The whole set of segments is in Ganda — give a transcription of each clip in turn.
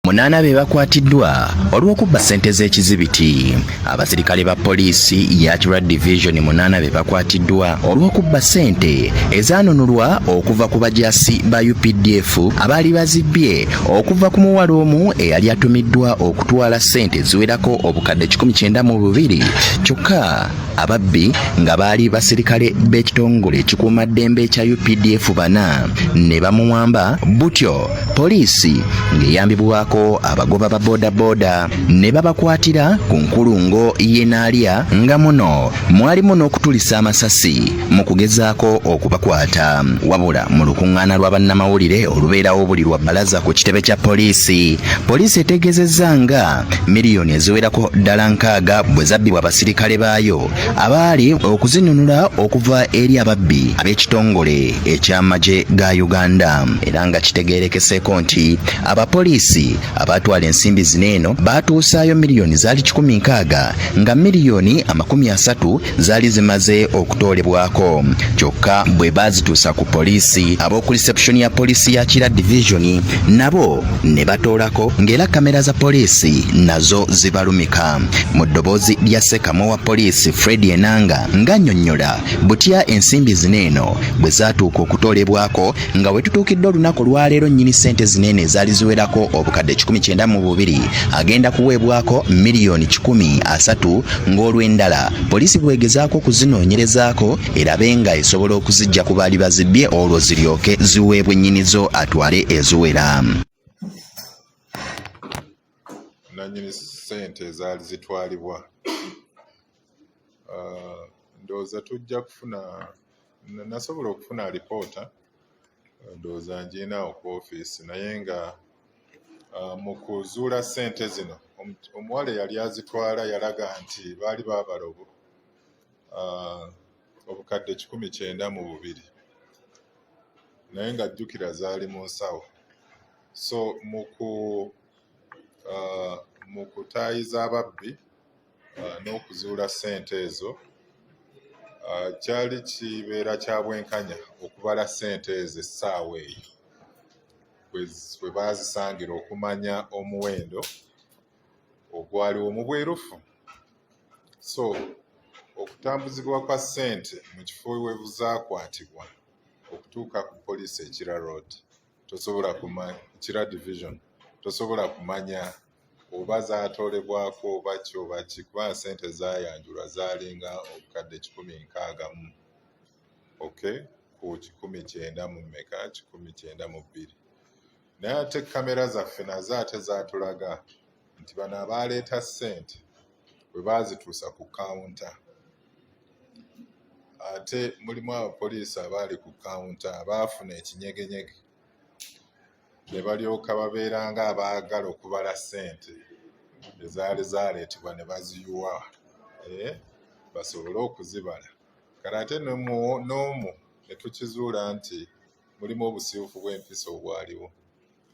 Munaana be bakwatiddwa olw'okubba ssente z'ekizibiti. Abasirikale ba poliisi ya Kira Division munaana be bakwatiddwa olw'okubba ssente ezaanunulwa okuva ku bajaasi ba UPDF abaali bazibbye okuva ku muwala omu eyali atumiddwa okutwala ssente eziwerako obukadde kikumi kyenda mu bubiri kyokka ababbi nga baali basirikale b'ekitongole ekikuuma ddembe ekya UPDF bana ne bamuwamba butyo poliisi ng'eyambibwako abagoba ba bodaboda ne babakwatira ku nkulungo y'enaalya nga muno mwalimu n'okutulisa amasasi mu kugezaako okubakwata wabula mu lukuŋŋaana lwa bannamawulire olubeerawo buli lwa bbalaza ku kitebe kya poliisi poliisi etegeezezza nga miliyoni eziwerako ddala nkaaga bwe zabbibwa abasirikale baayo abaali okuzinunula okuva eri ababbi ab'ekitongole eky'amagye ga Uganda era nga kitegeerekeseeko nti abapoliisi abaatwala ensimbi zino eno baatuusaayo miliyoni zaali kikumi nkaaga nga miliyoni amakumi asatu zaali zimaze okutoolebwako kyokka bwe baazituusa ku poliisi ab'oku reception ya poliisi ya Kira divizoni nabo ne batoolako ng'era kamera za poliisi nazo zibalumika mu ddoboozi lya ssekamwa wa poliisi fred enanga ng'annyonnyola butya ensimbi zino eno bwe zaatuuka okutoolebwako nga we tutuukidde olunaku olwaleero nnyini ssente zino eno ezaali ziwerako obukadde 19 mu bubiri agenda kuweebwako miliyoni 13 ng'olw'endala poliisi bwegezaako okuzinoonyerezaako erabe nga esobola okuzijja ku baali bazibbye olwo ziryoke ziweebwe nnyini zo atwale eziwera nanyini sente ezaali zitwalibwa ah, ndowooza tujja kufuna nasobola okufuna alipoota ndowooza ngiina oku ofiisi naye nga ah, mu kuzuula sente zino omuwala eyali azitwala yalaga nti baali baabala ah, obukadde kikumi kyenda mu bubiri naye nga jjukira zaali mu nsawo so muku ah, mu kutaayiza ababbi ah, n'okuzuula ssente ezo kyali kibeera kya bwenkanya okubala ssente ezo essaawa eyo bwe baazisangira okumanya omuwendo ogwaliwo mu bwerufu so okutambuzibwa kwa ssente mu kifo webuzaakwatibwa okutuuka ku poliisi ekira road tosobola kumanya ekira division tosobola kumanya oba zaatolebwako oba ki oba ki kuba ssente zaayanjulwa zaalinga obukadde kikumi nkaagamu okay ku kikumi kyenda mu meka kikumi kyenda mu bbiri naye ate kamera zaffe nazo ate zatulaga nti bano abaaleeta ssente bwe baazituusa ku kawunta ate mulimu abapoliisi abaali ku kawunta abaafuna ekinyegenyege ne balyoka babeera nga abaagala okubala ssente ezaali zaaleetebwa ne baziyiwa eh, basobole okuzibala kale ate n'omu ne tukizuula nti mulimu obusiiwufu bw'empisa obwaliwo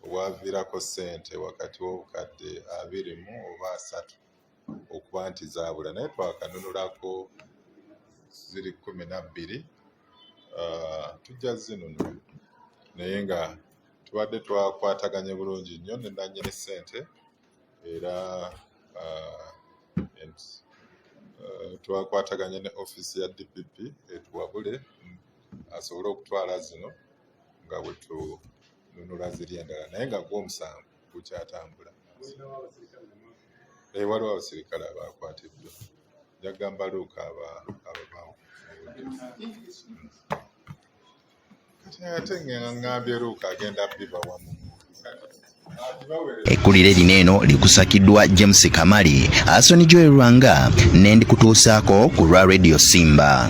obwaviirako ssente wakati w'obukadde abiri mu oba asatu okuba nti zaabula naye twakanunulako ziri kkumi na bbiri ah, tujja zinunula naye nga tubadde twakwataganye bulungi nnyo ne nannyini ssente era ah, ah, twakwataganye ne ofiisi ya dpp etuwabule asobole okutwala zino nga bwe tununula ziri endala naye nga gwo omusango gukyatambula eh, waliwo abasirikale abaakwatiddwa jagamba luuka ababawo kati ate ngengambye luuka agenda biba wamu Ekkulire lino eno likusakiddwa James Kamali, Asoni Joel Lwanga, n'endikutuusaako ku lwa Radio Simba.